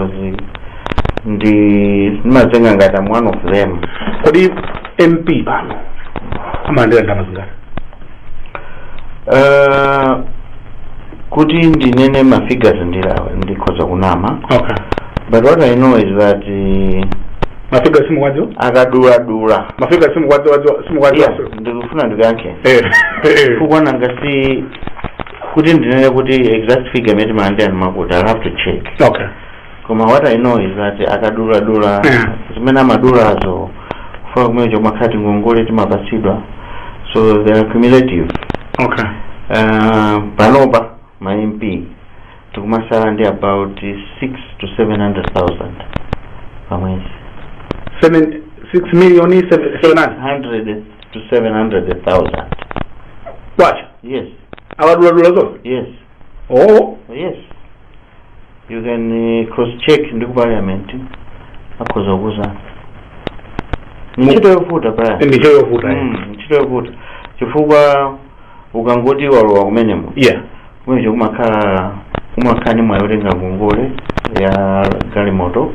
zi- ndi ndimazenga ngati I'm one of them kodi mp pano amalandira ndalama zingati Eh, kuti ndinene ma figures ndiye ndikhoza kunama okay but what i know is that eh, ma figures simukwadziwa akaduladula ma figures simukwadziwa simukwadziwa Yeah, ndikufuna ndikuyankhe Eh, eh. chifukwa nanga si kuti ndinene kuti exact figure imene timalandira ndi yakuti i'll have to check okay koma what i know is that akaduladula Yeah. zimene amadulazo chifukwa kumene timakhala tingongole timapatsidwa so they are cumulative okay uh, panopa ma mp tikumasala ndi about 6 to 700000 pamwezi seven six million seven seven hundred 600 to 700000 kwacha Yes. akaduladula zonse Yes. oh Yes. You can uh, cross check ndi ku parliament akhoza kukuuza. Ni ntchito yovuta paja. ntchito yovuta eh. Mm, ntchito yovuta. Chifukwa ukangoti walowa mmenemo. yeah Mmeneja kumakhala kumakhala ni mwayi otenga ngongole ya galimoto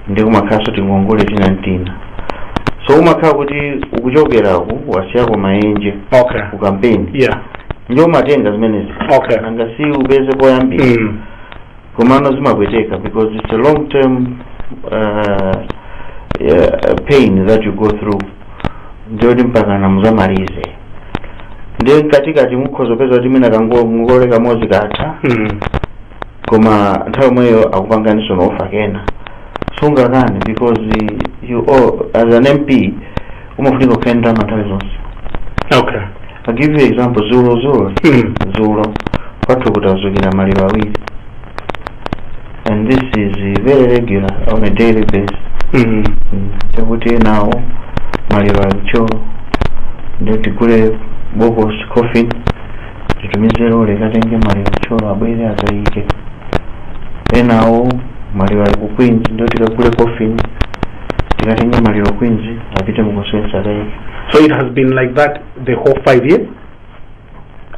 ndi kumakhalanso tingongole tina n'tina so umakhala kuti ukuchokerako wasiyako maenje okay ku kampeni yeah ndiyo umatenga zimenezija okay nanga si upeze poyambira mm. komano zimapweteka because it's a long term uh, uh, pain that you go through ndiyoti mpakana muzamalize ndiye mkatikati mukhoza kupeza kuti mwina kangongole kamodzi katha mm. koma nthawi yomweyo akupanganinso offer kena sungakane because you owe as an mp umafunika kukhala ndi ndalama nthawi zonse okay i'll give you example dzulo dzulo Mm. dzulo kwathu kunadzukira maliro awiri and this is uh, very regular on a daily basis Mm. Mm, chakuti enawo maliro ali ku Thyolo ndiye tigule bokosi coffin titumize lorry ikatenge maliro ku Thyolo abwere akaike enawo maliro ali ku queens ndiye tikagule coffin tikatenge maliro ku queens apite mu constituency akaike so it has been like that the whole five years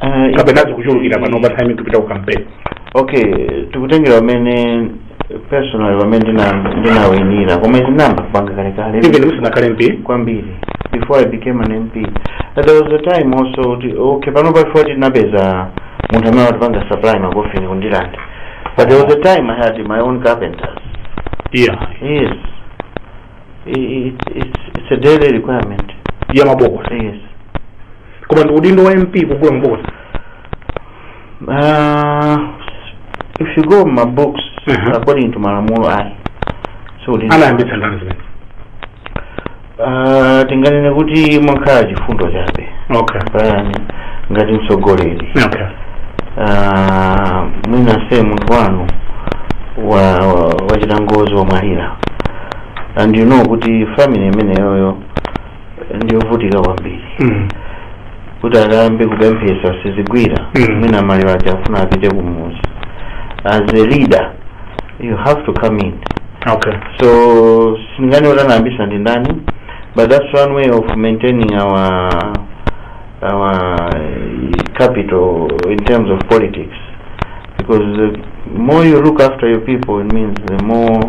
Ah, kapena zikuchulukira pano pa time tikupita ku campaign okay tikutengera mmene personally pamene ndina- ndinawinira koma izi ndinayamba kupanga kalekale even musanakhale mp kwambiri before i became an mp that there was a time also kuti okay panopa before tinapeza munthu amene watipanga supply makofini ku Ndirande but there was a time i had my own carpenters yeah yes I- i- it's, it's, it's a daily requirement ya mabokosi yes koma ndi udindo wa mp kugula mabokosi Uh, if you go ma box Mhm. according to malamulo ayi so lili- anayambitsa ndani zimene Ah, tinganene kuti mwakhala chifundo chabe okay paja ngati mtsogoleri okay Ah, mwina se munthu wanu wa wa- wachita ngozi wamwalira and you know kuti family imeneyoyo ndiyovutika kwambiri Mm. kuti akayambe kupemphesa sizigwira Mm. mwina maliro aja afuna apite kumuzi as a leader you have to come in okay so sindinganene kuti anayambisa ndi ndani but that's one way of maintaining our our capital in terms of politics because the more you look after your people it means the more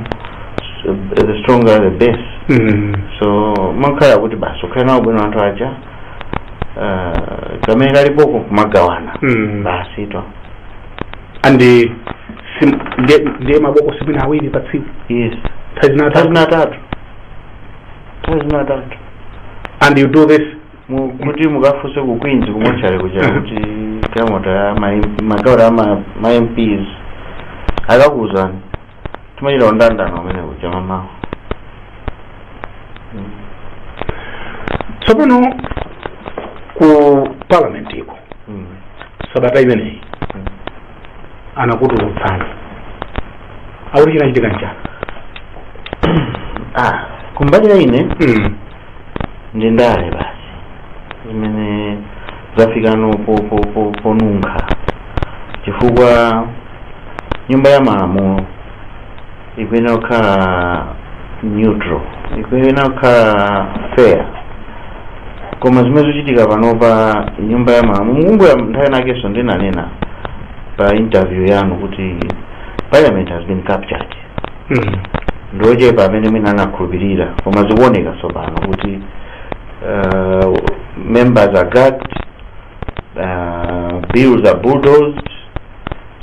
the stronger the base Mm. so umakhala kuti basi ukhale nawo bwino anthu aja uh, kamene kalipoko kumagawana Mm. basitu and eh, sim- ndi- ndiye mabokosi mwina awiri pa tsiku yes nthawi zina atatu nthazina atatu nthazina atatu and you do this Mu- kuti mukafunse ku queens ku mortuary kuja kuti galimoto ya ma- makhansala ma- ma mps akakuuzani timachita mndandanda umene kuja m'mamawa tsopano ku parliament iko Mm. sabata imeneyi Mm. anakutulutsani akuti chinachitika nchani ah kumbali ya ine mm. ndi ndale basi zimene zafikano po- po- po- ponunkha chifukwa nyumba ya malamulo ikuyenera kukhala neutral ikuyenera kukhala fair koma zimene zikuchitika panopa nyumba ya malamulo mukumbukira nthawi inakenso ndinanena pa interview yanu kuti parliament has been captured Mm. ndi ochepa amene mwina anakhulupirira koma zikuoneka tsopano kuti uh, members are gagged uh, bills are bulldozed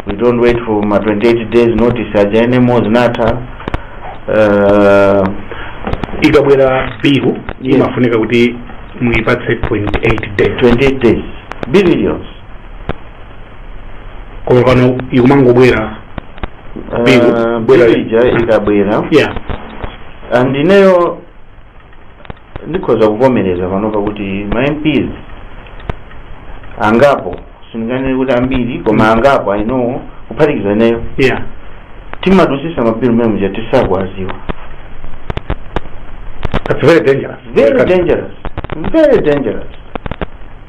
we don't wait for ma 28 days notice aja anymore zinatha uh, ikabwera bill Yes. imafunika kuti muipatse 28 days 28 days bill iliyonse koma pano ikumangobwera Bill, Ah, bwera- bill ija ikabwera yeah and ineyo ndikhoza kuvomereza panopa kuti ma mps angapo sindinganene kuti ambiri koma angapo i know kuphatikiza ineyo yeah timadusisa mabilu mmenemuja tisakuwaziwa that's very dangerous very dangerous very dangerous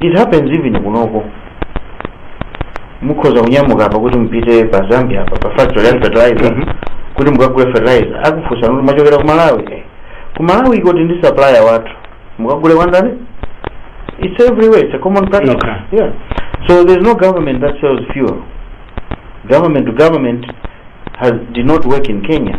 It happens even kunoko. Mukhoza kunyamuka apa kuti mupite pa Zambia apa pa factory ya fertilizer Mhm. kuti mukagule fertilizer akufunsani kuti mwachokera ku Malawi. Eh, Ku Malawi kotu tili ndi supplier wathu. Mukagule kwa ndani? It's everywhere. It's a common practice. Okay. Yeah. So there's no government that sells fuel. Government to government has did not work in Kenya.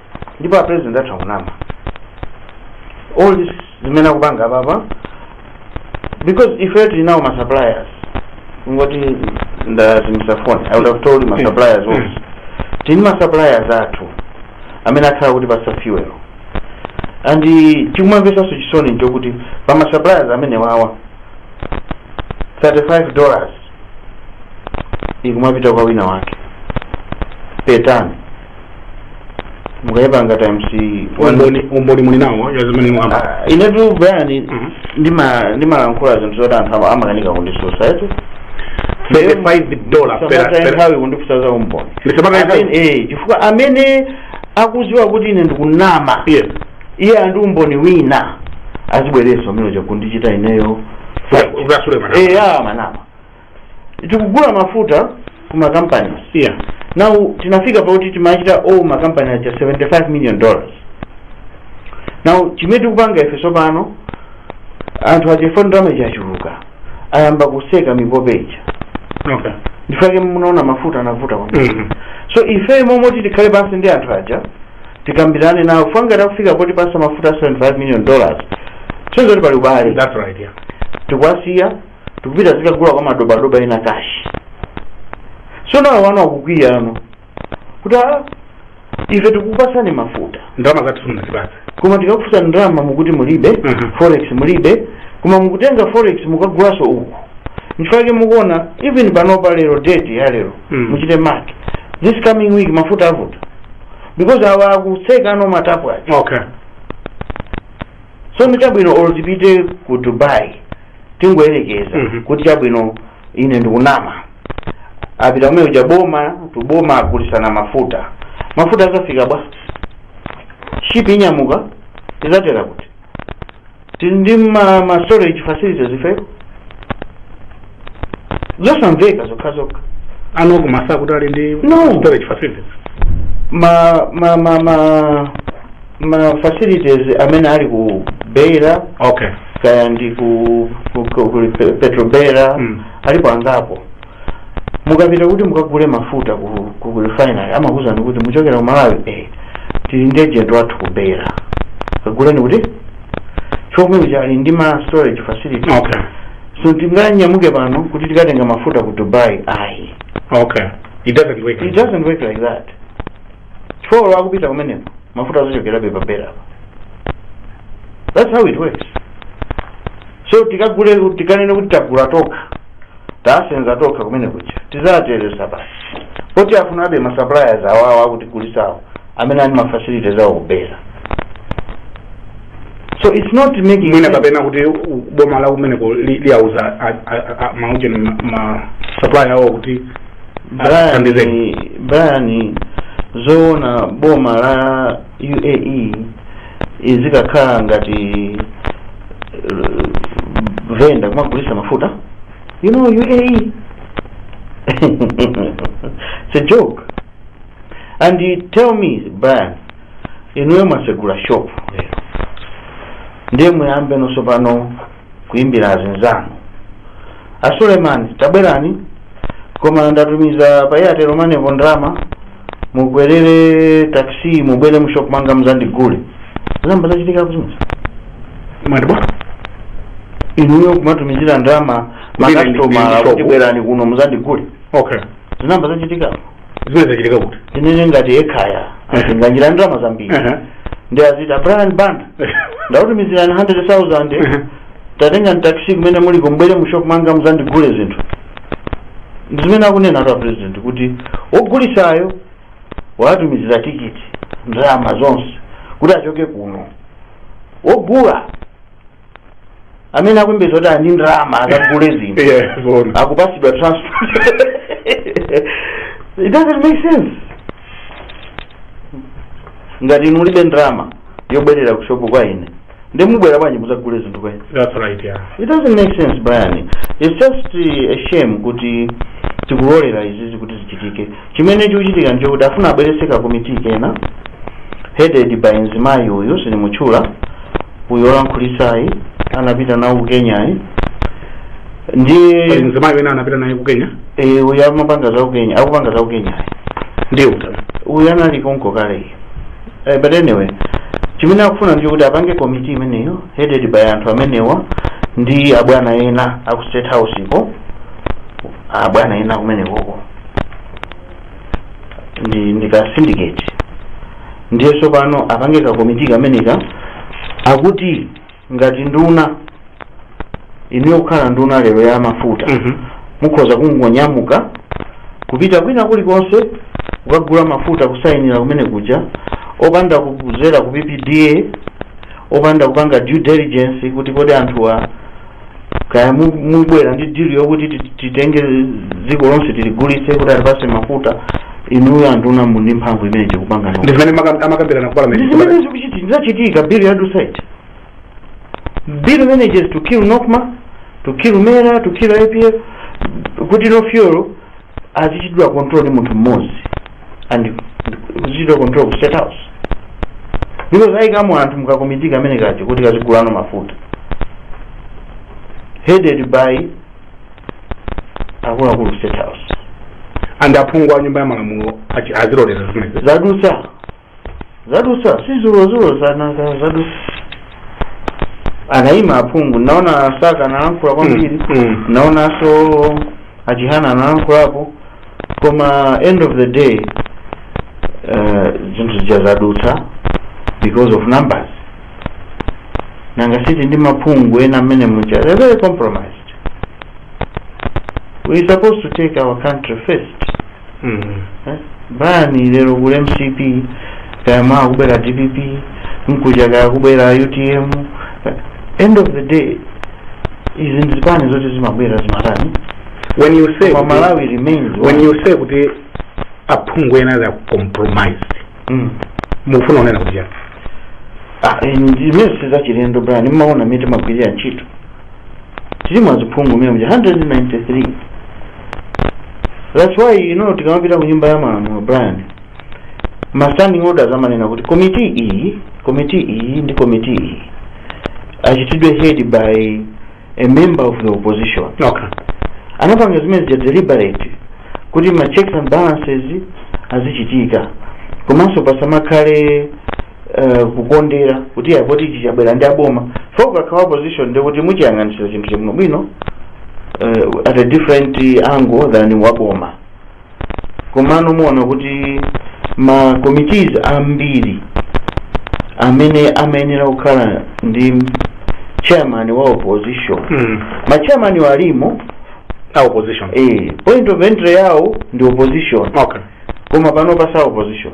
ndipo a president atha kunama all this zimene akupanga apapa because ife tili nawo ma suppliers kungoti ndazimisa phone i would have told ma suppliers also tili ndi ma suppliers athu amene akhala akutipasa fuel and chikumamvesanso chisoni nchokuti pa ma suppliers amene wawa 35 dollars ikumapita kwa wina wake per ton mukapanga times umboni muli nawo wa zimene mwakamba Ah, inetu Brian Mhm. ndima- ndimalankhula zinthu zoti anthu ama- amakanika kundisuwira eti 35 dollar per Samataya nthawi kundifusa za umboni Ndiye samataya nthawi? Amene- eh, chifukwa amene akuziwa kuti ine ndikunama yes iye ali ndi umboni wina azibweresa amene akundichita ineyo ukasule mana eya manama tikugula mafuta ku makampani yeah now tinafika poti timachita owe makampani aja 75 million dollars now chimene tikupanga ife tsopano anthu aja chifukwa ndalama zachuluka ayamba kuseka mipope ija okay nchifake munaona mafuta anavuta kwambiri Mhm. so ife mmalo moti tikhale pansi ndi anthu aja tikambirane nawo chifukwa akafika potipasa mafuta 75 million dollars nde kuti pali ubale that's right yeah tikuwasiya tikupita kukagula kwa madobadoba ena cash so now awa akukwiyano kuti "Ah, ife tikupasani mafuta ndalama zathu simunatipatse koma tikakufusani ndalama mukuti mulibe Mhm. forex mulibe koma mukutenga forex mukagulaso uku nchifake mukuona even panopa lero date ya lero Mm. muchite mark this coming week mafuta avuta because awa akusekano matapu aja okay so nchabwino or azipite ku Dubai tingoyerekeza Mhm. kuti chabwino ine ndikunama apita kumene kuja boma to boma agulisana mafuta mafuta akafika bwanji shipi inyamuka izatera kuti tili ndi ma, ma storage facilities ifeyo zosamveka zokha zokha anakumasula kuti ali ndi No. storage facilities ma ma ma ma ma facilities amene ali ku beira okay kaya ndi ku, ku, ku, ku Pe- petrobeira Mm. alipo angapo mukapita kuti mukagule mafuta ku, ku, ku refinery amakuuzani kuti muchokera ku malawi eh, tili ndi agent wathu ku beira kaguleni kuti chomwecho ali ndi ma storage facility okay so sitinganyamuke pano kuti tikatenga mafuta ku dubai ayi okay it doesn't work it doesn't work like that chifukwa akupita kumeneko mafuta azichokerabe pa beira that's how it works so tikagule tikanene kuti tagula tokha tasenza tokha kumene kuja tizateresa basi poti afunabe ma suppliers awawo akutigulisawo amene ali ma facilities awo ku beira so it's not making mwina sense. kapena kuti u- boma la kumeneko li- liyauza a- a- a- maujeni ma supplier awo kuti Athandizeni. brian zoona boma la uae izikakhala ngati eh, venda kumagulisa mafuta you know uae it's a joke and you tell me brian inuyo mwasegula shop lero ndiye muyambe nosopano kuimbira azinzanu a suleiman tabwerani koma ndatumiza pa airtel money po ndalama mukwerere taxi mubwere mushop mwanga mzandigule zinayamba zachitikapo zimenezo mwati bwa inuyo kumatumizira ndalama Kuti makasitomala tabwerani kuno mzandigule okay zinayamba zachitikapo zimenezo zachitika kuti tinene ngati ekhaya azinganjira ndalama zambiri Ehe. ndi azita brian banda ndakutumizirani 100000 Ehe. tatengani taxi kumene muliko mubwere mu shop mwanga muzandigule zinthu ndi zimene akunenatu a president kuti wogulisayo watumizira tikiti ndalama zonse kuti achoke kuno wogula amene akuyembekeza kuti ali ndi ndalama akagule zinthu Yeah, zona. akupatsidwa transport it doesn't make sense ngati inu mulibe ndalama yobwerera ku shopu kwa ine ndiye mubwera bwanji muzagule zinthu kwa ine That's right, yeah. it doesn't make sense brian it's just uh, a shame kuti tikulolera izizi kuti zichitike Chimene chikuchitika nchokuti afuna abweretse ka committee kena headed by mzimayi uyu sindimutchula uyu olankhulitsayi anapita nawo ku Kenyayi ndiye pali mzimayi wina anapita naye ku kenya eh, uyu amapanga za ku Kenya akupanga za ku Kenyayi ndiye utana uyu anali konko kale eh, but anyway chimene akufuna nchokuti apange committee imeneyo headed by anthu amenewa ndi abwana ena aku state house ko abwana ena kumenekoko ndi ka syndicate ndiye tsopano apange ka komiti kameneka akuti ngati nduna inu yokhala nduna lero ya mafuta Mhm. mukhoza kungonyamuka kupita kwina kulikonse kukagula mafuta kusayinira kumene kuja opanda kudzera ku ppda opanda kupanga due diligence kuti kodi anthuwa kaya abwera ndi dili yokuti titenge dziko lonse tiligulitse kuti atipatse mafuta inuyo anduna muli ndi mphamvu imeneyo kupanga ndi zimene amakambirana ku parliament ndi zimene zikuchi- ndi zachitika bill yadutsa iti bill imeneyi is to kill nokma to kill mera to kill apf kuti now fuel azichitidwa control ndi munthu mmodzi and azichitidwa control ku state house because ayikamo anthu mukakomiti kamene kaja kuti kazigula no mafuta headed by akuluakulu state house and aphungu a nyumba ya malamulo azilolera zimenezo zadutsa zadutsa si dzulodzulo zadutsa anayima aphungu ndinaona a Saka analankhula kwambiri Mm. ndinaonanso a Chihana analankhulapo koma end of the day eh, zinthu zija zadutsa because of numbers nanga siti ndi aphungu ena mmene muja they're very compromised we're supposed to take our country first Mm. eh? brian lero kuli mcp kaya mawa kubwera dpp mkuja kaya kubwera utm eh, end of the day izi ndi zipani zoti zimabwera zimatani when you say koma malawi remains when you say kuti aphungu ena they are compromised Mm. mukufuna kunena kuti chani Ah, eh, imene sizachilendo brian mmaona mmene timagwirira ntchito tilimo aziphungu mmene muja 193 that's why you know tikamapita ku nyumba ya malamulo brian ma standing orders amanena kuti komiti iyi komiti iyi ndi komiti iyi ichitidwe head by a member of the opposition okay anapanga zimene zija deliberate kuti ma checks and balances azichitika komanso pasamakhale uh, kukondera kuti poti ichi chabwera ndi aboma chifukwa ukakhala opposition ndi kuti muchiyang'anitsira chinthu chabwinobwino uh, at a different angle than waboma komano muona kuti ma committees ambiri amene amayenera kukhala ndi chairman wa opposition Mm. ma chairman awo alimo a opposition eh, point of entry yawo ndi opposition okay koma panopa si a opposition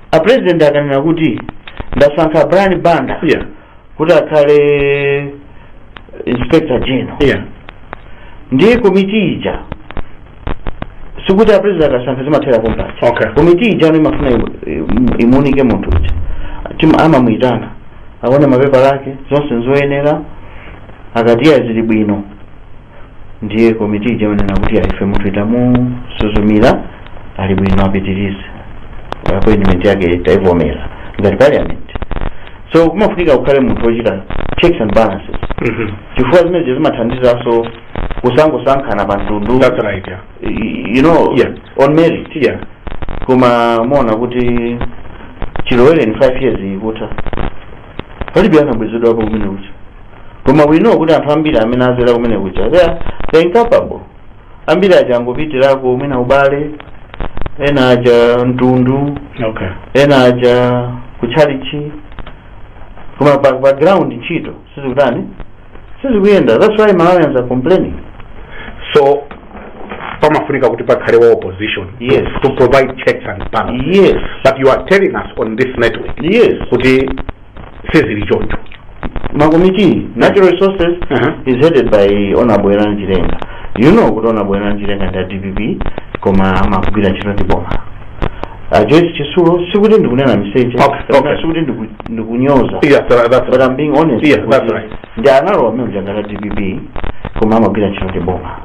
a president akanena kuti ndasankha brian banda yeah kuti akhale inspector general yeah ndiye komiti ija sikuti apresident akasankha zimathera pompaja Okay. komiti ija imafuna imu- imu- imuunike munthu uja amamuyitana aone mapepala ake zonse zoyenera akati eya zili bwino Ndiye komiti ija imanena kuti ayi ife munthuyi tamusuzumira ali bwino apitirize appointment yake taivomera ngati parliament so kumafunika kukhale munthu wochita checks and balances Mhm. chifukwa zimenezo zimathandizanso kusangosankhana pa mtundu That's right, yeah. y- you know Yeah. on merit Yeah. koma muona kuti chilowereni 5 years ikutha palibe anabwezedwapo kumene kuja Koma we know kuti anthu ambiri amene azera kumene kuja they are they are incapable. Ambiri aja angopitirako mwina ubale, ena aja mtundu, okay ena aja kutchalichi. Koma pa ground ntchito sizikutani sizikuyenda. That's why Malawians are complaining. so pamafunika kuti pakhale wa opposition Yes. to, to provide checks and balances Yes, but you are telling us on this network yes. kuti sizili choncho makomiti natural resources Aha. is headed by honorable Werani Chilenga you know kuti honorable Werani Chilenga ndi a DPP koma amagwira ntchito ndi boma a Joyce Chitsulo sikuti ndikunena miseche Okay, kapena okay. sikuti ndiku- ndikunyoza yes that, that's but I'm being honest Yeah, that's kuti right. ndi a honorable member wa DPP koma amagwira ntchito ndi boma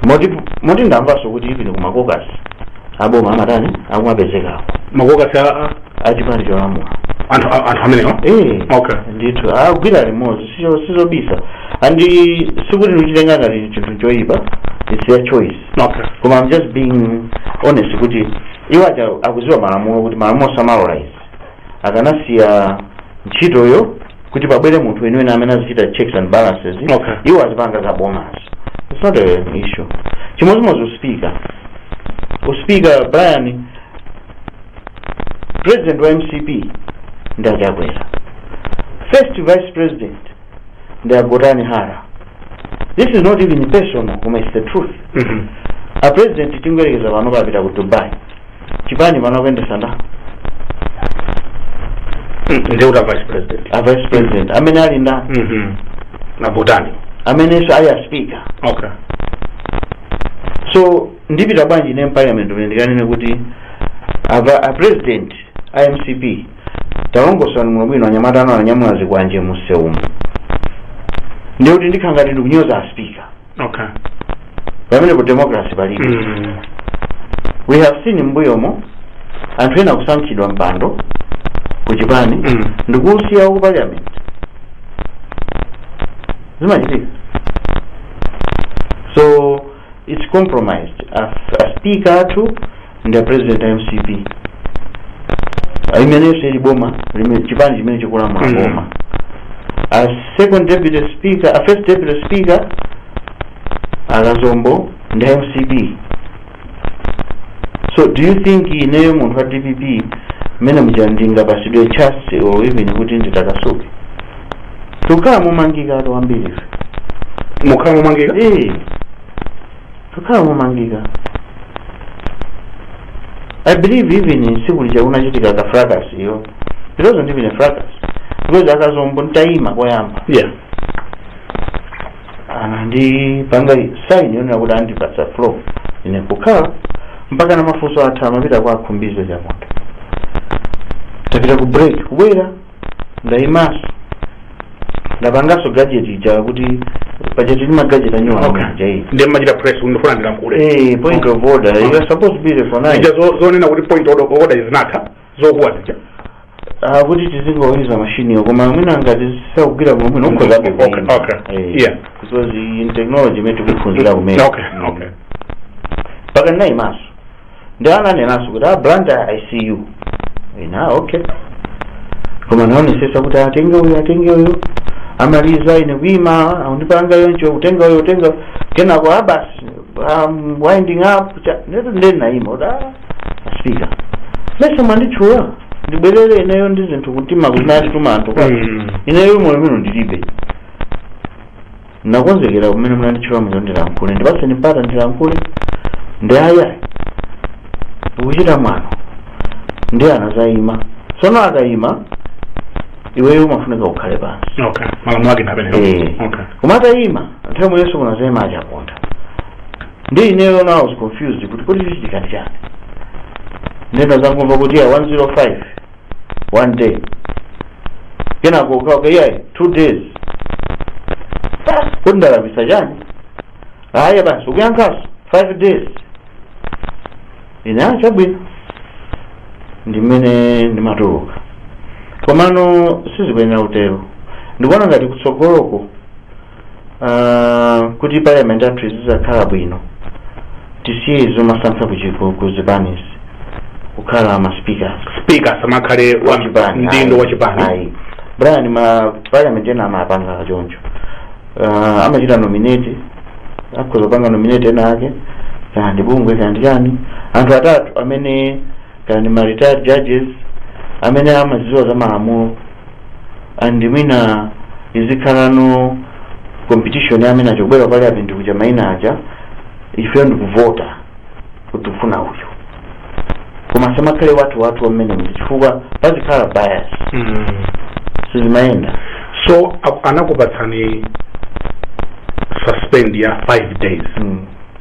moti moti ndamvanso kuti even ku makokasi aboma amatani akumapezekako makokasi a- a- achipani cholamula anthu a- anthu amenewa Eh, Okay. ndithu agwira limodzi sizo- sizobisa and sikuti ndikuchitenga ngati chinthu choyipa it's their choice okay koma i'm just being honest kuti iwo aja akuziwa malamulo kuti malamulo samalola izi akanasiya ntchitoyo kuti pabwere munthu weniweni amene azichita checks and balances Okay. iwo azipanga za bomazo it's not an issue chimodzimodzi uspika uspika brian president wa mcp ndi a Chakwera first vice president ndi a Gotani Hara this is not even personal koma it's the truth Mhm. a president tingoyerekeza pano apita ku dubai chipani pano akuyendesa nda ndiye kuti a vice president a vice president amene ali nda Mhm. ndi a Gotani amenenso ali a speaker okay so ndipita bwanji ine mparliament pene ndikanene kuti a a president a mcp talongosani muno bwino anyamata anu ananyamula zikwanje musewumu ndiye kuti ndikhala ngati ndikunyoza a speaker okay pamene ku democracy palibe mm. we have seen mbuyomu anthu ena kusankhidwa mpando ku chipani Mm. ndikusiya ku parliament zimachitika so it's compromised a, a speaker athu ndi a president a mcp imeneso ili boma limene- chipani chimene chikulamula Mm. boma a second deputy speaker a first deputy speaker akazombo ndi a mcp so do you think ineyo munthu wa dpp mmene muja ndingapatsidwe chance or even kuti nditakasuke tikukhala momangika anthu ambiri ife tikukhala momangika Eh, Kukhala momangika. I believe even tsiku lija kunachitika ka fracas iyo. It wasn't even a fracas. Because akazombo nditayima koyamba. Yeah. Anandipanga sign yonena kuti andipatsa floor. Ine kukhala mpaka na mafunso atha amapita kwa a Khumbize Chiponda. Tapita ku break kubwera ndaimaso ndapangaso gadget ija kuti paja tili ma gadget anyuwa Okay. aja iyi ndiye umachita press kuti ndifuna ndilankhule Eh, point of order you are supposed to be the for nine ija zo- zonena kuti point of order zinatha zokuwa zija Ah, kuti tizingoyuza mashini yo koma mwina ngati sakugwira bwino bwino ukhoza Okay, kuyima. okay. Eh, Yeah. because in technology imene tikuphunzira kumene okay okay mpaka ndinayimaso ndi ananenanso kuti a blantyre i see you ina okay koma anaonetsetsa kuti atenge uyu atenge uyu amaliza ine kuima angondipanga choncho utenga uyu utenga kenako abasi um, winding up cha- netu nde ndinaima kuti a speaker mesa munanditchula ndibwereze ineyo ndi zinthu kuti ma- zimene anatituma anthu kwa Mm. ineyo mwayi uno ndilibe Ndakonzekera kumene munanditchula muja kuti ndilankhule. Ndipatseni mpata ndilankhule. Ndi ayi ayi. Ukuchita mwano. Ndiye anazayima. Tsono akayima iweyo umafunika ukhale pansi. Okay. Malamulo ake ndi amenewo. Eh. Okay. Koma atayima nthawi yomweyonso kunazayima achaponda. Ndi ineyo now I was confused kuti kodi chikuchitika ndi chani. Nde ndinazangomva kuti ya 105 one day kenako kuka- iyayi two days kuti ndalakwitsa chani aya basi ukuyankhaso five days ine a chabwino ndimene ndimatuluka komano sizikuyenera kutero ndikuona ngati kutsogoloko Ah, kuti parliament yathu izizakhala bwino tisiye zomasankha kuzipanizi kukhala ma speakers speaker samakhale wa Wachipani, mdindo ayi, wa chipani ayi. brian ma parliament ena amapanga choncho Ah, amachita nominate akhoza kupanga nominate ena ake kaya ndi bungwe kaya ndi chani anthu atatu amene kaya ndi ma retired judges amene amaziwa za malamulo and mwina izikhalanso competition ya amene azibwera pali apa ndikutcha maina aja ifeyo ndikuvota kuti ufuna uyu koma samakhale wathu wathu wa momwe muja chifukwa pazikhala bias Mm. sizimayenda so a- anakupatsani suspend ya 5 days mm.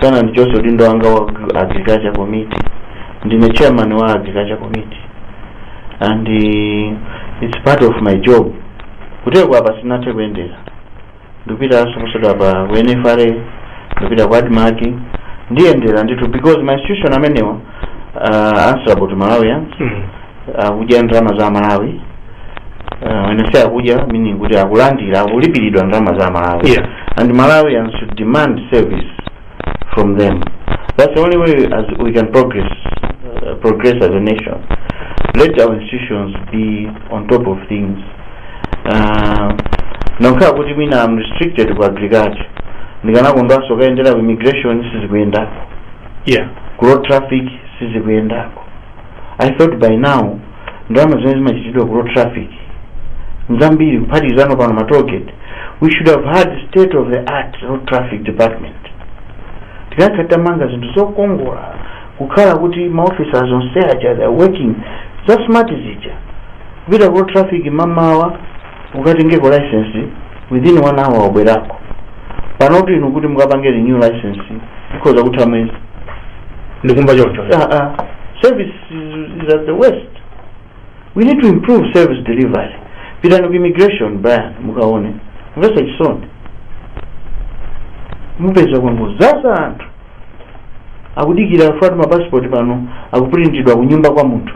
sanandichotse udindo wanga wa agri- agriculture committee ndine chairman wa agriculture committee and uh, it's part of my job kuti kwapa sinathe kuyendera ndipitanso posachedwapa ku nfra ndipita ku admarc ndiyendera ndithu because ma institution amenewa uh, answerable to malawians Mm. akudya ndalama za malawi uh, when I say akudya meaning kuti akulandira akulipiridwa ndalama za malawi Yeah. and malawians should demand service from them that's the only way us we can progress uh, progress as a nation let our institutions be on top of things uh, nokhala kuti mwina I'm restricted ku agriculture ndikanakondwanso kayendera ku immigration sizikuyenda yeah ku road traffic sizikuyendako i thought by now ndalama zimene zimachitidwa ku road traffic nzambiri kuphatikizano pano ma tollgate we should have had state of the art road traffic department tikanakhala titamanga zinthu zokongola kukhala kuti ma officers onse aja they are working za smart zija kupita ku road traffic mamawa ukatengeko license within one hour wabwerako pano oti inu kuti mukapange renew license ikhoza kutha miyezi ndikumva choncho Ah, ah. service is, is at the worst we need to improve service delivery pitani ku immigration brian mukaone mumva chisoni mupeza kwangozaza anthu akudikira chifukwatu ma passport pano akupulintidwa kunyumba kwa munthu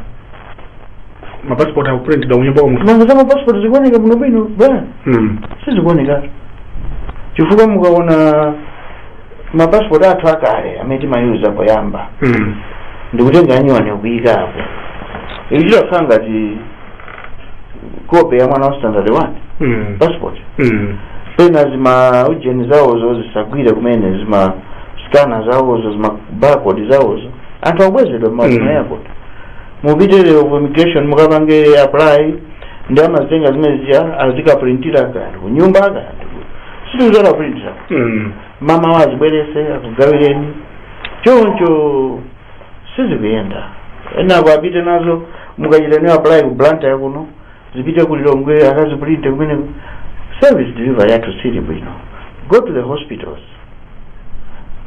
ma passport akupulintidwa kunyumba kwa munthu nanga za ma passport zikuoneka bwinobwino bwana mm. sizikuoneka chifukwa mukaona ma passport athu akale amene timayuza poyamba mm. ndikutenga anyuwani kuika apo ichi chikukhala ngati kope ya mwana wa standard 1 Mm. passport Mm. pena zima ujeni zawozo zisagwire kumene zima skana zawozo zima barcode zawozo anthu akubwezedwa Mm. m'ma airport mupite ku immigration mukapange apply ndi amazitenga zimene zija azikaprintira kanthu kunyumba kanthu sizatha printira Mm. mama wazibwerese akugawireni choncho sizikuyenda enako apite nazo mukachita nayo apply ku blantyre kuno zipite ku lilongwe akazipulinte kumeneko service delivery yathu siili bwino go to the hospitals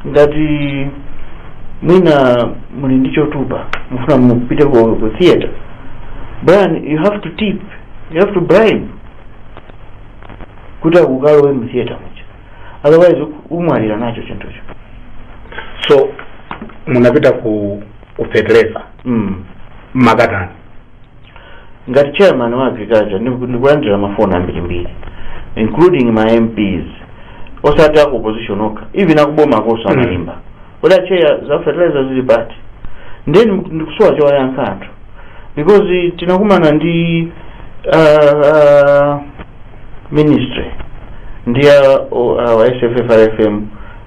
ngati mwina muli ndi chotupa mufuna mupite ku, ku theater brian you have to tip you have to bribe kuti akukalowe mu theater muja otherwise umwalira nacho chinthucho so munapita ku ku fertilizer mm. makatani ngati chairman wa agriculture ndiku- ndikulandira mafoni ambirimbiri including ma mps osati aku opposition okha even akuboma akonso amaimba kodi acheya za fertilizer zili pati ndiye ndikusowa chowayankha anthu because tinakumana ndi uh, uh, ministry ndi a, o- a, wa sffrfm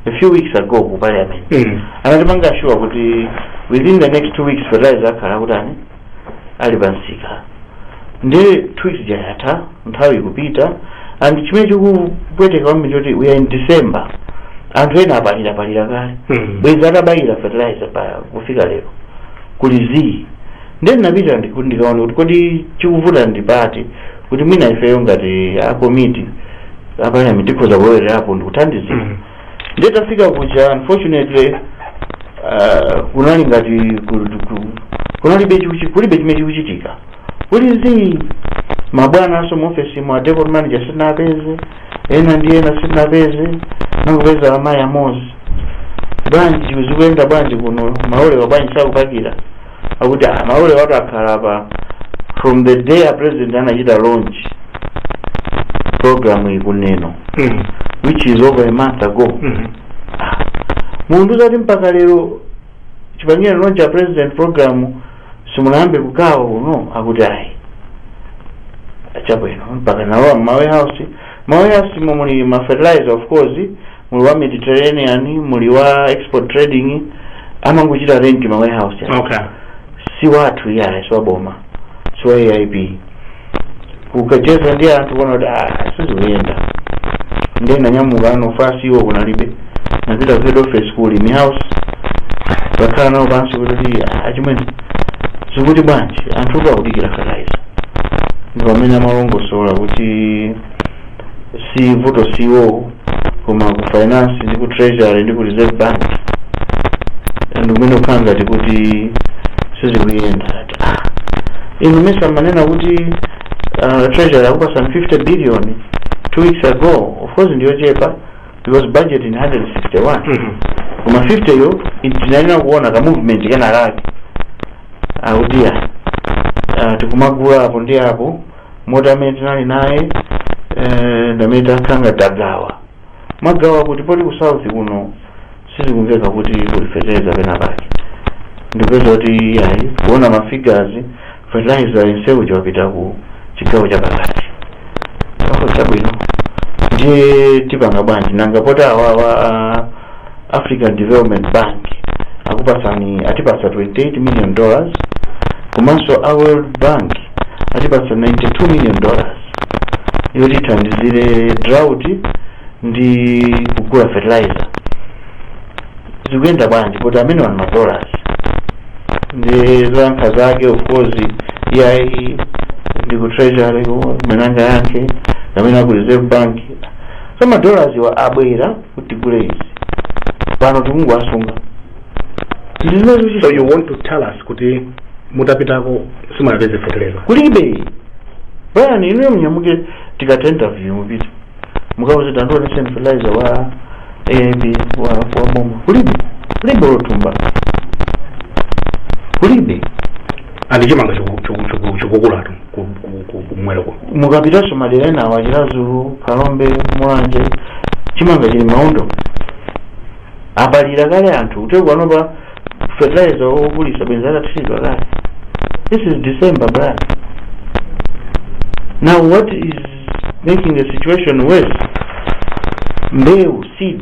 a few weeks ago ku parliament Mm. anatipanga sure kuti within the next two weeks fertilizer akhala akutani ali pansika ndiye two weeks ija yatha nthawi ikupita and chimene chikupweteka kwambiri choti we are in december anthu ena apalira palira kale Mm. bwezi atabayira fertilizer pa kufika lero kuli zii ndiye ndinapita ndiku- ndikaona kuti kodi chikuvuta ndi pati kuti mwina ifeyo ngati a komiti a parliament tikhoza kulowererapo ndikuthandizira Mm. ndiye tafika kuja unfortunately uh, kunali ngati ku- ku- kunalibe chikuchi- kulibe chimene chikuchitika kuli zii mabwana onse muofesi mwa depot manager sindinapeze ena ndi ena sindinapeze nangopeza amayi amozi bwanji zikuyenda bwanji kuno malolewa bwanji sakupakira akuti ah, malolewatu akhala apa from the day a president anachita launch program mukunenayo Mm. which is over a month ago Mhm. mukundiuza kuti mpaka lero chipangire launch a president program simunayambe kugawa kuno akuti ayi chabwino mpaka nalowa mma warehouse ma warehouse momwe muli ma fertilizer of course muli wa mediterranean muli wa export trading amangochita rent ma warehouse aja. okay si wathu iyaye si waboma si wa aip ukacheza ndi anthu kuona kuti "Ah, sizikuyenda ndiye ndinanyamuka ano office iwo kunalibe ndinapita ku head office ku kulima house kukakhala nawo pansi kuti "Ah, achimwene zikuti bwanji anthu akudikira fertilizer ndi pamene amalongosola kuti si vuto si iwo koma ku finance ndi ku treasury ndi ku reserve bank ndi kumene kukukhala ngati kuti sizikuyenda ati ah inu mesa manena kuti uh, treasury akupasani 50 billion two weeks ago of course ndiyochepa because budget ndi 161 Mhm. koma 50 yo tinayenela kuona ka movement kenakake akuti ya uh, tikumagula apo ndi apo moti amene tinali naye eh, ndamene takhala ngati tagawagawa kuti poti ku south kuno sizikumveka kuti kuli fertilizer pena pake ndipeza kuti ayi kuona mafigures fertilizer yenseyu wapita ku chigawo cha pakati chabwino ndiye tipanga bwanji nanga poti awawa African Development Bank akupatsani atipatsa 28 million dollars komanso a World Bank atipatsa 92 million dollars yoti ithandizire drought ndi kugula fertilizer zikuyenda bwanji poti amenewa ndi ma dollars ndiye zoyankha zake of course iyayi ndi ku treasury mwina yake amene aku reserve bank so ma dollarswa abwera kuti tigule izi pano tikungowasunga tili nazo so so you want to tell us kuti mutapitako simunapeze feteleza kulibe bwana inuyo munyamuke tikatha interview mupite mukauze tandiwonetseni fertilizer wa aip wa wa boma kulibe kulibe olo thumba kulibe and chimanga choku- choku- choku- chokukulatu ku- ku- ku- kumwera kuno mukapitanso madera ena awa chiradzulu phalombe mulanje chimanga chili mmaondo apalira kale anthu kuti akanapeza fertilizer wogulisa bwenzi atathiridwa kale this is december brother now what is making the situation worse mbewu seed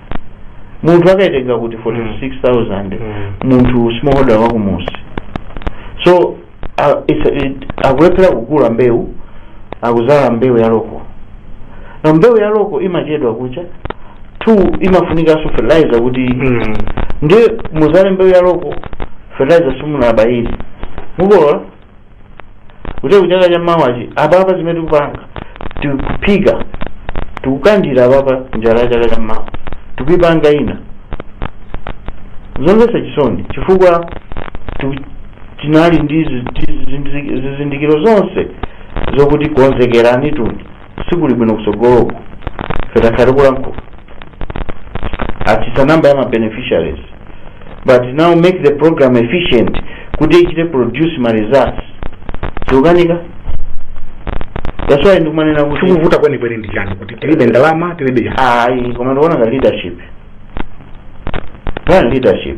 munthu akayitenga kuti 46000 Mm. munthu smallholder wakumusi so uh, it's a, it, akulephera kugula mbewu akuzala mbewu ya loko now mbewu ya loko imachedwa kucha two imafunikanso fertilizer kuti Mm. ndiye muzale mbewu ya loko fertilizer simunabayiri mukolola kuti kuchaka cha mawachi apapa zimene tikupanga tikuphika tikukandira apapa njala ya chaka cha mawa tikuipanga ina zomvetsa chisoni chifukwa tu- tinali ndi zi- zi- zizindikiro zonse zokuti konzekerani tuni sikuli bwino kusogoloku ife takhala tikulankhula atsitsa namba ya ma beneficiaries but now make the program efficient kuti ichite produce ma results zikukanika that's why ndikumanena kuti chikuvuta kwenikweni ndi chani kuti tilibe ndalama tilibe chani ayi koma ndikuona ngati leadership leadership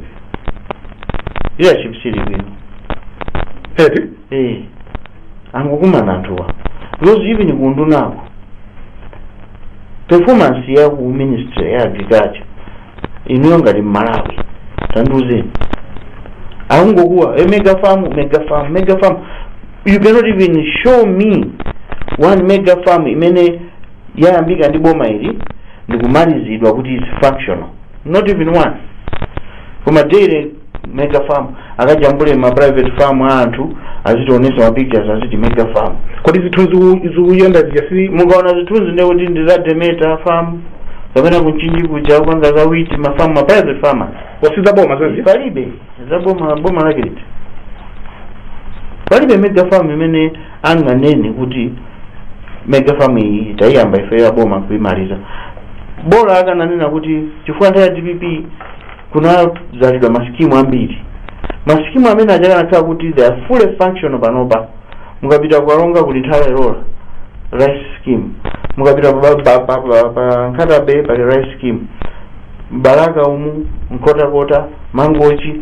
leadership sili bwino eti eh angokumana anthuwa because even kuundunako performance ya ku ministry ya agriculture inuyo ngati mmalawi tandiuzeni akungokuwa mega farm mega farm mega farm you cannot even show me one mega farm imene yayambika ndi boma ili ndikumalizidwa kuti is functional not even one koma daily mega farm akajambule ma private farm a anthu azitionesa ma pictures aziti mega farm kodi zithunzi u- zikuyenda zija si mukaona zithunzi ndiye kuti ndi za demeter farm kapena kumchinji kuja kupanga za witi ma farm ma private farmers awa si za boma zazija palibe za boma boma lake liti palibe mega farm imene anganene kuti mega farm iyi tayiyamba ife ya boma kuimaliza bola akananena kuti chifukwa nthawi ya dpp kunazalidwa masikimu ambiri masikimu amene aja akanakhala kuti they are fully functional panopa mukapita kukaronga kuli nthola ilola rice scheme mukapita pa, pa, pa, pa, pa nkhata bay pali rice scheme m'balaka umu nkhotakota mangochi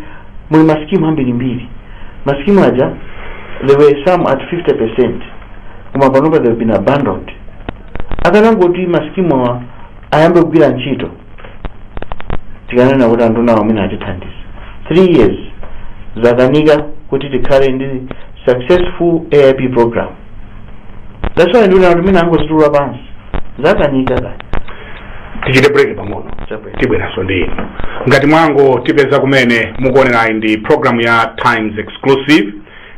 muli masikimu ambirimbiri masikimu aja there were some at 50 percent koma panopa they've been abandoned akanangoti masikimu awa ayambe kugwira ntchito tikanena kuti andunawo mwina atithandiza 3 years zakanika kuti tikhale ndi successful aip program that's why ndikunena kuti mwina angozitula pansi zakanika kaya tichite break pang'ono Chabwino. tibweranso ndi inu ngati mwangotipeza kumene mukuonerayi ndi program ya times exclusive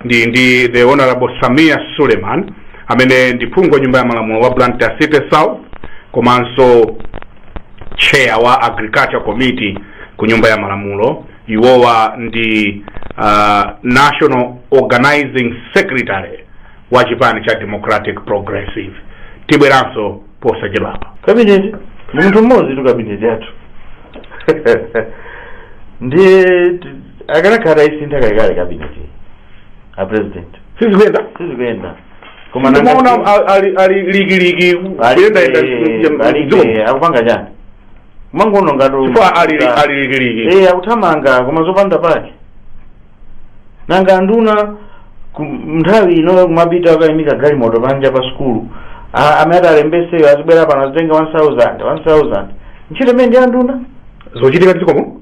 ndi ndi the honorable sameer suleman amene ndi phungu wa nyumba ya malamulo wa blantyre city south komanso chair wa agriculture committee ku nyumba ya malamulo iwowa ndi uh, national organizing secretary wa chipani cha democratic progressive tibweranso posachedwapa kabineti ndi munthu mmodzitu kabineti yathu ndiye ti- akanakhala atayisintha kalekale cabinet a president sizikuyenda sizikuyenda koma nanga- nduna ali- ali- ali likiliki Ali- kuyendayenda eh, ali- mdziko eh, akupanga chani mangonong'a chifukwa ali ali likiliki eh akuthamanga koma zopanda pake nanga nduna ku- nthawi ino kumapita akayimika galimoto panja pa sukulu A- amene ati alembeseyo azibwera pano azitenga 1000 1000 ntchito imeneyo ndi ya nduna zochitika mdzikomo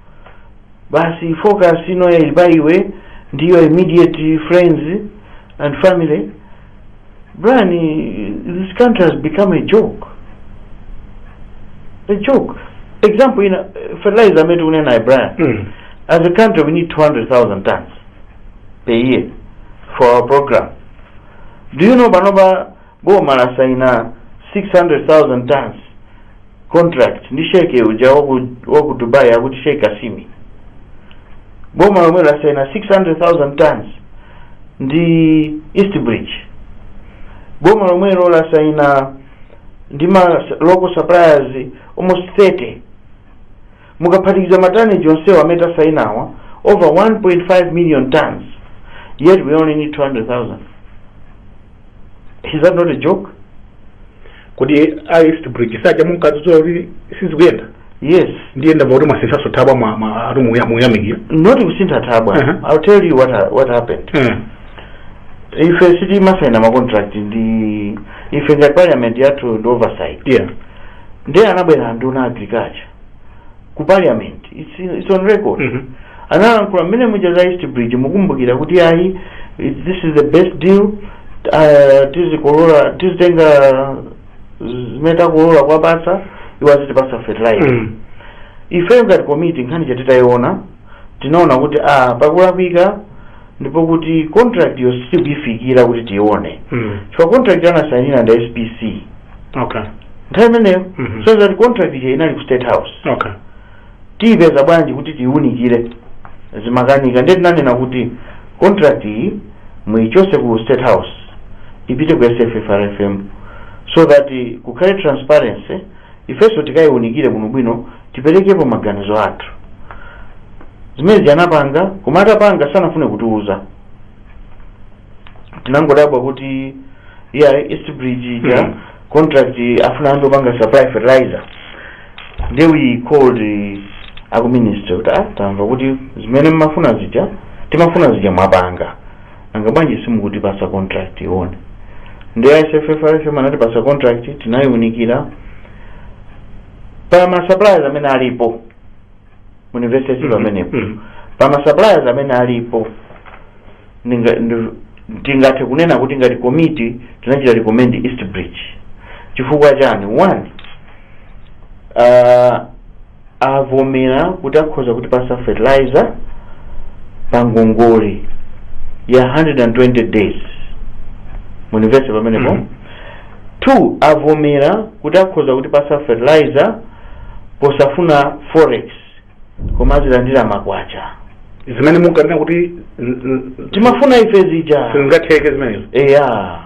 basi focus ino ili pa iwe ndi your immediate friends and family Brian this country has become a joke a joke example ina fertilizer amene tikunena naye Brian Mm. as a country we need 200,000 tons per year for our program do you know panopa boma lasaina 600,000 tons contract ndi sheikh uja waku, waku dubai akuti sheikh asimi boma lomwelo lasaina 600,000 tons ndi east bridge boma lomwelo lasaina ndi ma local suppliers almost 30 Mukaphatikiza ma tonnage onsewa amene tasainawa, over 1.5 million tonnes, yet we only need 200,000. Is that not a joke? kodi a east bridge paja munkadzudzula kuti sizikuyenda Yes. ndiye ndamva kuti mwasinthanso thabwa mwa- mwa- ati muya- muyamikira Not kusintha thabwa. Uh-huh. I'll tell you what, ha- what happened. Eh, Ife sitimasaina ma contract ndi ife ngati parliament yathu ndi oversight. yeah Ndiye anabwera nduna agriculture. ku parliament it's, it's on record Mhm. analankhula mmene muja za east bridge mukumbukira kuti ayi it- this is the best deal uh, tizikolola tizitenga zimene takolola kuwapatsa iwo azitipatsa fertilizer Mm. ife ngati komiti nkhani ija titayiona tinaona kuti a pakulakwika ndipo kuti contract yo sitikuyifikira kuti tione Mm. chifukwa contract anasayinira ndi spc Okay. nthawi imeneyo Mhm. so that contract ija inali ku state house Okay. tiyipeza bwanji kuti tiyiunikire zimakanika ndiye tinanena kuti contract iyi muyichotse ku state house ipite ku sffrfm so that eh, kukhale transparency ifenso tikayiunikire bwinobwino tiperekepo maganizo athu zimenezi anapanga koma atapanga sanafune kutiuza tinangodabwa kuti ya east bridge ija Mhm. contract afuna anthu opanga supply fertilizer then we called eh, aku ministry kuti ah tamva kuti zimene mmafuna zija timafuna zija mwapanga nanga bwanji simukutipatsa contract tiione ndi sffrfm anatipatsa contract tinayiunikira pa ma suppliers amene alipo mundimvetsetse pamenepo Mhm. pa ma suppliers amene alipo ndinga- ndi- tingathe kunena kuti ngati komiti tinachita recommend east bridge chifukwa chani one uh, avomera kuti akhoza kutipatsa fertilizer pa ngongole ya 120 days mundimvetsetse pamenepo Mhm. 2 avomera kuti akhoza kutipatsa fertilizer posafuna forex koma azilandira makwacha zimene munkanena kuti n- n- timafuna ife zija sizingatheke zimenezo eya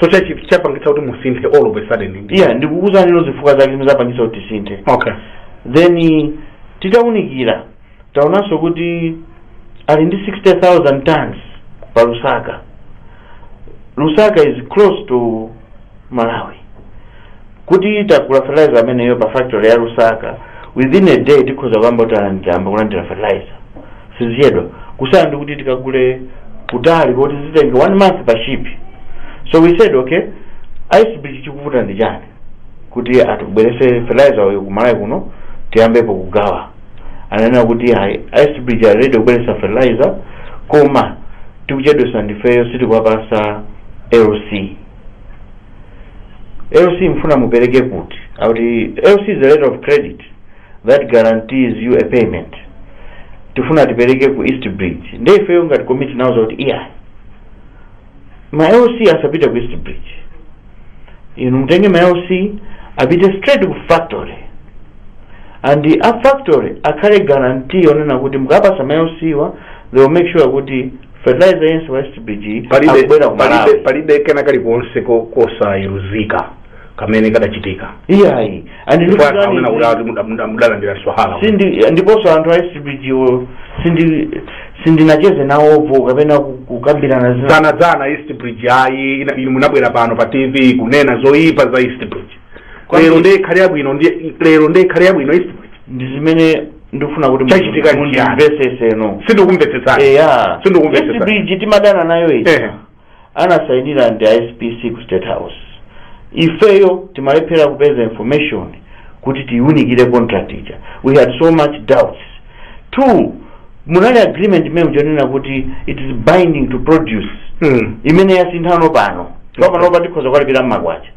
so chachi- chapangitsa kuti musinthe all of a sudden iya ndikukuuzani inu zifukwa zake zimene zapangitsa kuti tisinthe okay then titaunikira taonanso kuti ali ndi 60000 tons pa lusaka lusaka is close to malawi kuti tagula fertilizer ameneyo pa factory ya lusaka within a day tikhoza kuyamba kulandira fertilizer sizichedwa kusiyana ndi kuti tikagule kutali koti zitenge one month pa ship so we said okay east bridge chikuvuta ndi chani kuti atibwerese fertilizer uyo kumalawi kuno tiyambepo kugawa ananena kuti ayi east bridge ali ready kubweresa fertilizer koma tikuchedwesa ndifeyo sitikwapasa lc lc mfuna mupereke kuti auti lc is a letter of credit that guarantees you a payment tifuna tipereke ku east bridge nde ifeyo ngati komiti inauza kuti iyayi ma LC asapite ku East Bridge inu mutenge ma LC apite straight ku factory ndi a factory akhale guarantee onena kuti mukapasa ma LC wa they will make sure kuti fertilizer yense wa East Bridge akubwera ku Malawi palibe kena kalikonse ko- kosayeruzika kamene kadachitika iyayi and ndipo anthu ndikuti amene akuti muda- muda- mudalandira swahala sindi ndiponso anthu a east bridge wo sindi sindinacheze nawopo kapena ku- kukambirana dzana dzana east bridge ayi ina- inu munabwera pano pa tv kunena zoyipa za east bridge Kwa lero nini? ndiye ikhale yabwino ndiye- lero ndiye ikhale yabwino east bridge ndi zimene ndifuna kuti Chachitika ndi chiyani? mundimvesese no sindikumvetsetsani eya Sindikumvetsesa. East Bridge timadana nayo Ehe. ija anasainira ndi a SPC ku State House. Ifeyo timalephera kupeza information kuti tiunikire contract ija. We had so much doubts. Two, munali agreement imene ija yonena kuti it is binding to produce Mm. imene yasinthano pano Okay. pano pa tikhoza kukalipira mmakwacha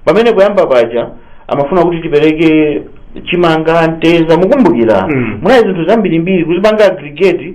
pamene poyamba paja amafuna kuti tipereke chimanga mtedza mukumbukira Mm. munali zinthu zambirimbiri kuzipanga aggregate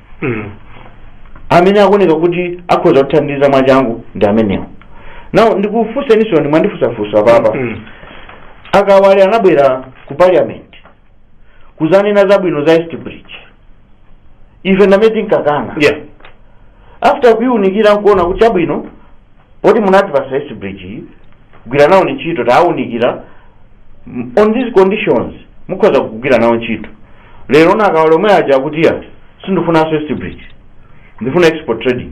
Mm. amene akuoneka kuti akhoza kutithandiza mwachangu ndi amenewo now ndikufunseninso ine mwandifunsafunsa apapa Mm. akawale anabwera ku parliament kuzanena zabwino za east bridge ife ndamene tinkakana Yeah. after kuiunikira nkuona kuti chabwino poti munati pasa East Bridge iyi gwira nawo ni ntchito tawunikira m- on these conditions mukhoza kugwira nawo ntchito lero akawa omwe aja akuti ya sindifunanso East Bridge ndifuna export trading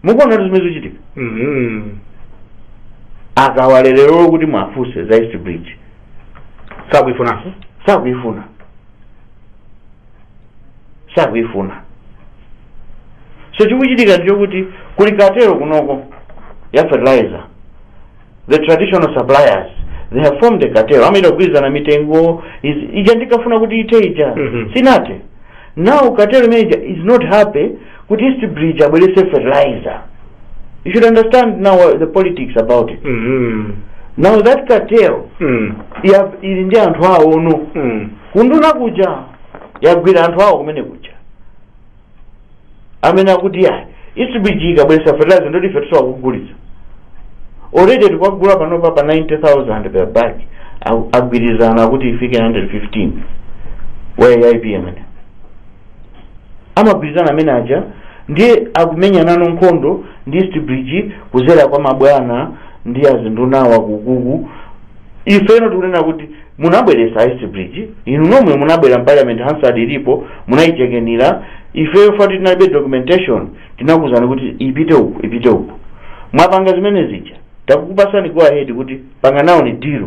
mukuona kuti zimene zikuchitika Mhm. akawa lero kuti mwafunse za east bridge sakuifunanso sakuyifuna sakuifuna so chikuchitika ndi chokuti kuli cartel kunoko ya fertilizer the traditional suppliers they have formed a cartel amachita kugwirizana mitengo izi- ija ndikafuna kuti ithe ija Mhm. sinathe now cartel manager is not happy kuti east bridge abweretse fertilizer you should understand now uh, the politics about it Mhm. now that cartel Mm. ya- ili ndi anthu awono Mm. kunduna kuja yagwira anthu awo kumene kuja amene akuti ayi east bridge ikabweretsa fertilizer ndiye kuti ife sitikugulitsa already tikwagula panopa pa 90000 per bag Agu- agwirizana kuti ifike 115 wa AIP amagwirizana amene aja ndiye akumenyanano nkhondo ndi East Bridge kudzera kwa mabwana ndi azinduna awa akuluakulu ifeno tikunena kuti munabweretsa East Bridge inu nomwe munabwera mparliament hansard ilipo munayichemerera ifeyo tati inalibe documentation tinakuuzani kuti ipite uku ipite uku mwapanga zimene zija takupatsani go ahead kuti panga nawoni deal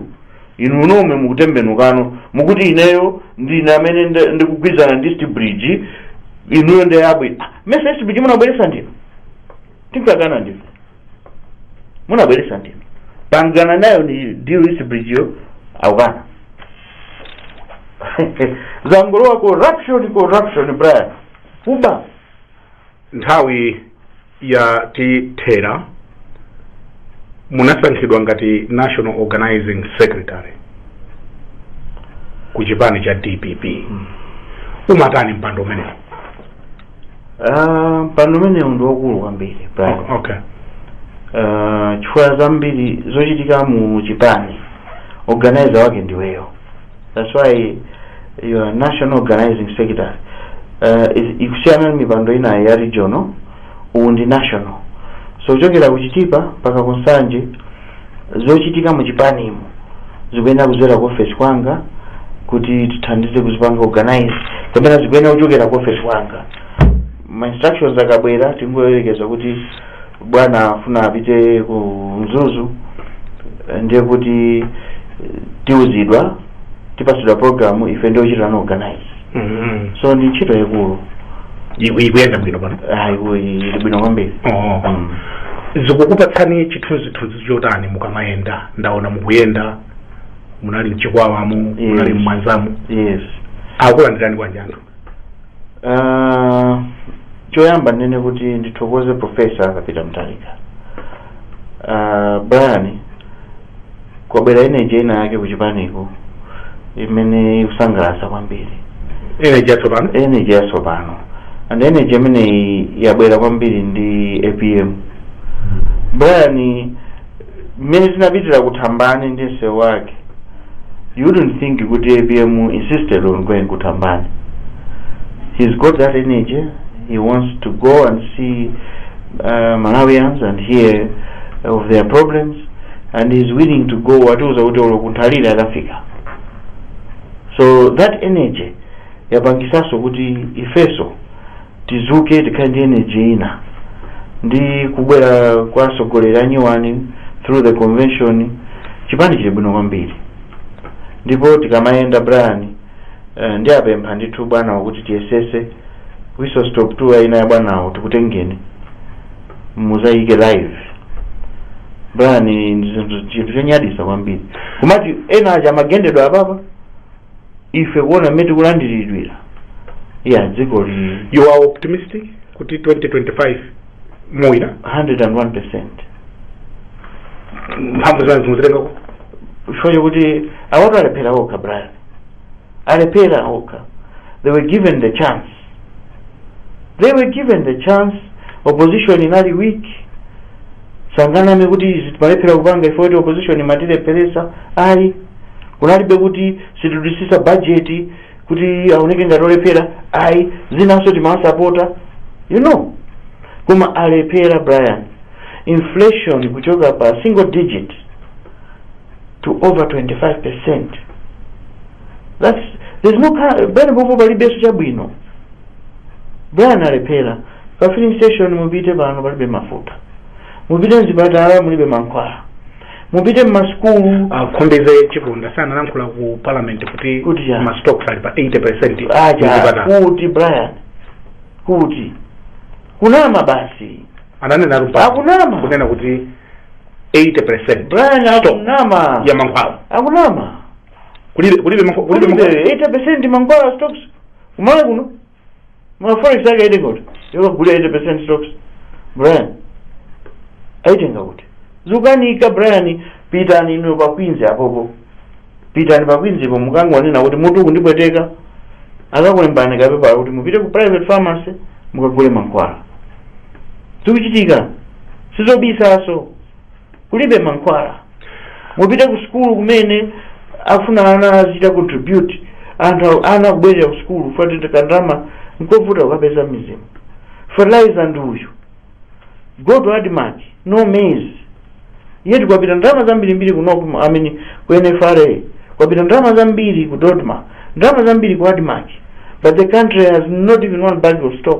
inu nomwe mukutembenukano mukuti ineyo ndine amene nde- ndikugwirizana ndi East Bridge inuyo ndi abwino Ah, mesa East Bridge munabweretsa ndinu tinkakana ndife munabweretsa ndinu pangana nayoni deal East Bridge yo akukana zangolowa corruption corruption brian kuba nthawi yatithera munasankhidwa ngati national organizing secretary ku chipani cha dpp umatani mpando umenewu Ah, mpando umenewu ndi wakulu kwambiri Brian. O- okay Ah, chifukwa zambiri zochitika mu chipani organizer wake ndiweyo that's why you are national organizing secretary uh, is- ukusiyana ndi mipando inayi ya regional uwu ndi national so kuchokera ku chitipa mpaka ku nsanje zochitika mu chipanimu zikuyenera kudzera ku ofesi kwanga kuti tithandize kuzipanga organize kapena zikuyenera kuchokera ku ofesi kwanga ma instructions akabwera tingoyerekeza kuti bwana afuna apite ku mzuzu eh, ndiye kuti eh, tiuzidwa tipasidwa programu ife ndiye ochitano organize Mhm. so ndi ntchito yaikulu Iku- ikuyenda bwino pano ayiwo ili bwino kwambiri Oh. Mm. zikukupatsani chithunzithunzi chotani mukamayenda ndaona mukuyenda munali mchikwawamo munali Yes. mmwanzamu yes akulandirani bwanji anthu Ah, choyamba ndinene kuti ndithokoze profesa arthur peter mutharika Ah, brian kwabwera energy ina yake kuchipaniko imene ikusangalatsa kwambiri energy yatsopano energy yatsopano and energy imeneyi yabwera kwambiri ndi apm brian mmene tinapitira ku thambani ndi msewu wake you wouldn't think kuti apm insisted on going ku thambani he's got that energy he wants to go and see uh, malawians and hear of their problems and he's willing to go watiuza kuti olo kunthalire akafika so that energy yapangisanso kuti ifeso tizuke tikhale ndi energy ina ndi kubwera kwa atsogoleri anyuwani through the convention chipani chili bwino kwambiri ndipo tikamayenda brian eh, ndiwapempha ndithu bwanawo kuti tiyesese whistle stop tour ina ya bwanawo tikutengeni muzayike live brian ndi zinthu- chinthu chonyadisa kwambiri kumati ena aja amagendedwa apapa ife kuona mmene tikulandiridwira ya dzikoli you are optimistic kuti 2025 muwina 101 percent mphamvu zanuzi muzitengako chifukwa chokuti awatu alephera okha brian alephera okha they were given the chance they were given the chance opposition inali weak sanganame kuti izi timalephera kupanga ife kuti opposition imatilepheresa ayi kunalibe kuti sitidutsitsa bajeti kuti aoneke ngati olephera ayi zinanso timawasapota you know koma alephera brian inflation kuchoka pa single digit to over 25 percent that's there's no ca- pamenepopo palibenso chabwino brian alephera pa filling station mupite pano palibe mafuta mupite mzipatala mulibe mankhwala mupite mmasukulu a khumbize chiponda dzana analankhula ku parliament kuti Kuti ya. ma stocks ali pa 80 percent aja kuti brian kuti kunama basi ananena kuti pa- Akunama. kunena kuti 80 percent brian akunama ya mankhwala akunama kulibe kulibe mankhwa- kulibe kulibe mankhwala 80 mankhwala stocks ku malawi kuno forex yake aitenga kuti yokagula 80% stocks brian aitenga kuti zikukanika brian pitani inuyo pa Queens apopo pitani pa Queenspo mukangonena kuti mutu ukundipweteka akakulembani kapepala kuti mupite ku private pharmacy mukagule mankhwala zikuchitika sizobisaso kulibe mankhwala mupite ku sukulu kumene afuna ana azichita contribute anthu awo- ana kubwerera ku sukulu fatete kandama nkovuta kukapeza mizimu fertilizer ndi uyu go to admarc no maize yet kwapita ndalama zambirimbiri ku nokma amene ku nfra kwapita ndalama zambiri ku dodma ndalama zambiri ku admarc but the country has not even one bag of stock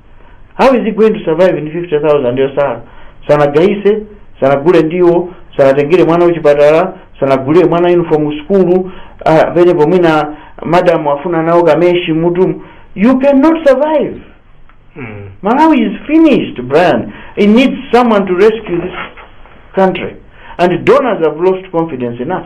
how is he going to survive ndi 50000 yosala sanagayise sanagule ndiwo sanatengere mwana kuchipatala sanagulire mwana uniform ku sukulu ah, pena mwina madam afuna nawo kameshi m'mutu you cannot survive Mm. Malawi is finished, Brian. It needs someone to rescue this country. And donors have lost confidence in us.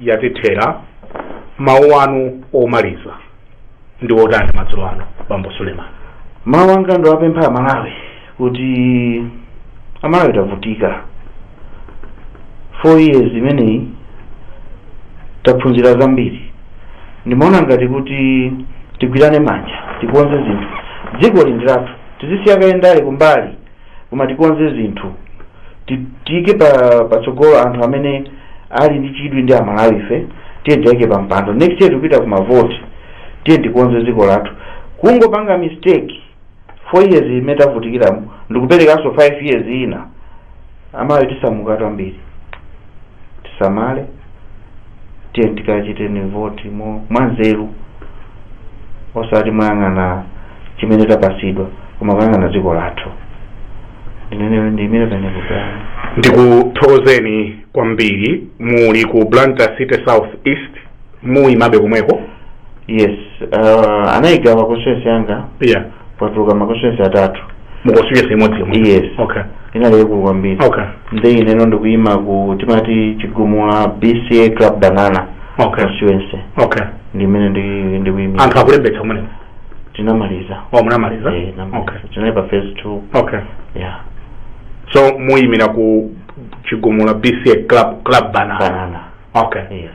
yatithera. Mawu anu omaliza ndi otani madzulo ano, Bambo Suleman? Mawu anga ndiwapempha Amalawi kuti Amalawi tavutika. Four years imeneyi taphunzira zambiri. Ndimaona ngati kuti tigwirane manja, tikonze zinthu. Dziko ili ndi lathu, tizisiya kaye ndale kumbali. koma tikonze zinthu Ti- tiike pa patsogolo anthu amene ali ndi chidwi ndi amalawife tiyeni tiike pa mpando next year tikupita ku mavoti tiyeni tikonze dziko lathu kungopanga mistake four years imene tavutikiramu ndikuperekanso five years ina amalawi tisamukatu ambiri tisamale tiyeni tikachite voti mo mwanzeru osati moyang'ana chimene tapasidwa koma kuyang'ana dziko lathu ineyo ndiimire pamenepa ndikuthokozeni kwambiri muli ku blantyre city south east muyimabe komweko yes uh, anayigawa constituency yanga yeah patuluka maconstituency atatu mukonsese imodzi yomwe Yes. okay inali yaikulu kwambiri okay nde ineno ndikuyima ku timati chigumula bca club banana okay constituency okay ndi imene ndi- ndikuyima anthu akulembetsa kumene tinamaliza munamaliza Eh, tinamaliza. okay tinali pa phase two okay yeah so muyimira ku chigumula bca club banana okay yes